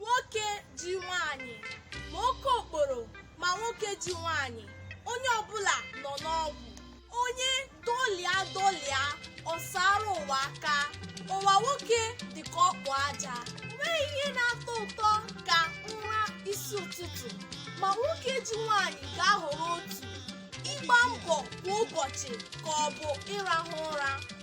nwoke ji nwaanyị ma oke okporo ma nwoke ji nwaanyị onye ọbụla nọ n'ọgwụ onye dọlịa dọlịa ọ saara ụwa aka ụwa nwoke dị ka ọkpụ aja enweghị ihe na-atọ ụtọ ka ụra isi ụtụtụ ma nwoke ji nwaanyị ga-ahọrọ otu ịgba mbọ kwa ụbọchị ka ọ bụ ịrahụ ụra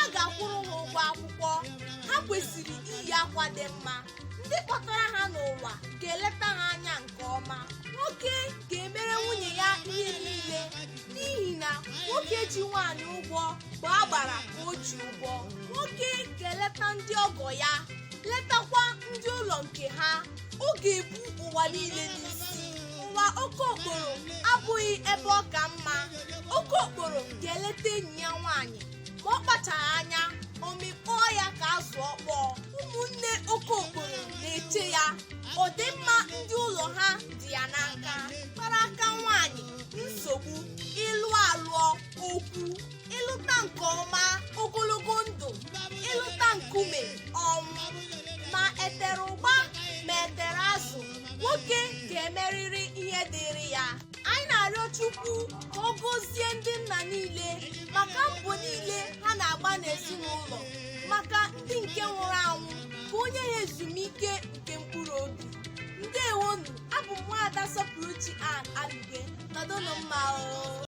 a ga-akwụrụ ha ụgwọ akwụkwọ ha kwesịrị iyi akwa dị mma ndị kpọtara ha n'ụwa ga-eleta ha anya nke ọma nwoke ga-emere nwunye ya ihe niile n'ihi na nwoke ji nwaanyị ụgwọ bụ agbara ka o ji ụgwọ nwoke ga-eleta ndị ọgọ ya letakwa ndị ụlọ nke ha ọ ga-ebu ụwa niile n'isi ụwa oke okporo abụghị ebe ọ ka mma oke okporo ga-eleta enyi ya nwaanyị ma ọ kpachaghị anya ọ mịkpọọ ya ka azụ ọkpọọ ụmụnne oke okporo na-eche ya ọdịmma ndị ụlọ ha dị ya n'aka gbara aka nwaanyị nsogbu ị lụọ alụọ okwu ị lụta nke ọma ogologo ndụ ị lụta nkume ọnwụ ma e tere ụgba ma e tere azụ nwoke ga-emerịrị ihe dịrị ya anyị na-arịọ chukwu ka ọ gọzie ndị nna niile maka mbọ niile ha na-agba n'ezinụlọ maka ndị nke nwụrụ anwụ ka o nye ha ezumike nke mkpụrụ obi ndewonụ abụ m nwaada sọpụrụchi ann alụge nọdụnụ mma o